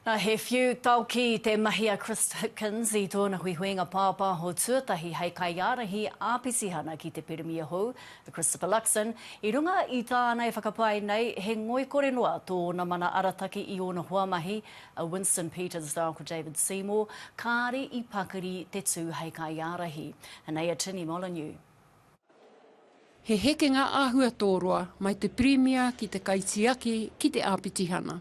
Nā, he whiu taoki te mahi a Chris Hipkins i tōna huihuinga pāpāho tuatahi hei kaiārahi āpitihana ki te pirimia hou, a Christopher Luxon. I runga i tāna e whakapae nei, he ngoikore noa tōna mana arataki i ōna hoamahi, a Winston Peters rāua ko David Seymour, kāre i pakari te tū hei kaiārahi. Anei a Tini Molyneux. He hekenga āhua tō roa, mai te pirimia ki te kaitiaki ki te āpitihana.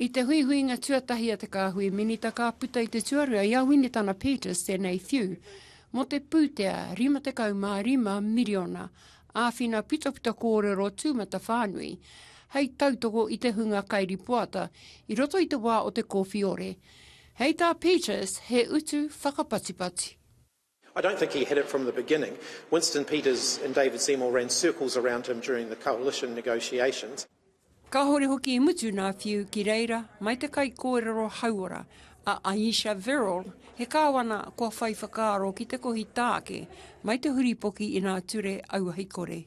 I te huihuinga tuatahi a te Kāhui Minita ka puta i te tuarua i a Winitana Peters tēnei whiu mō te pūtea 55 miriona āwhina putaputa kōrero tūmatawhānui hei tautoko i te hunga kairipoata i roto i te wā o te kōwhiore. Hei tā Peters he utu whakapatipati. I don't think he had it from the beginning. Winston Peters and David Seymour ran circles around him during the coalition negotiations. Kāore hoki i mutu nā Whiu ki reira mai te kaikōrero hauora a Ayesha Verrall, he kāwana kua whai whakaaro ki te kohi tāke mai te huripoki inā ture auahi kore.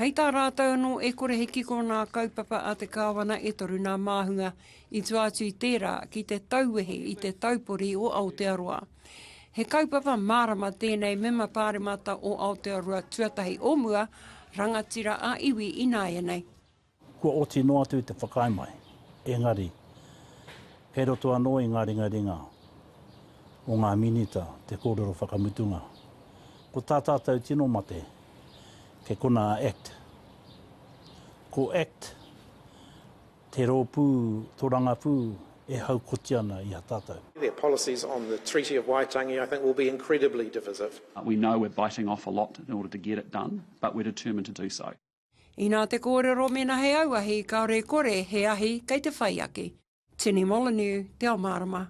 Hei tā rātou anō e kore he kiko nā kaupapa a te Kāwana e toru nā māhunga i tua atu i tērā ki te tauwehe i te taupori o Aotearoa. He kaupapa mārama tēnei mema pāremata o Aotearoa tuatahi o mua, rangatira ā-iwi ināianei. Kua oti noa atu te whakaae mai, engari, kei roto anō i ngā ringaringa o ngā Minita te kōrero whakamutunga, ko tā tātou tino mate, kei konā a act. Ko act te rōpū torangapū e haukoti ana i a tātou. Their policies on the Treaty of Waitangi I think will be incredibly divisive. We know we're biting off a lot in order to get it done, but we're determined to do so. Inā te kōrero mēnā he auahi kāore e kore he ahi kei te whai ake. Tini Molyneux, Te Ao Mārama.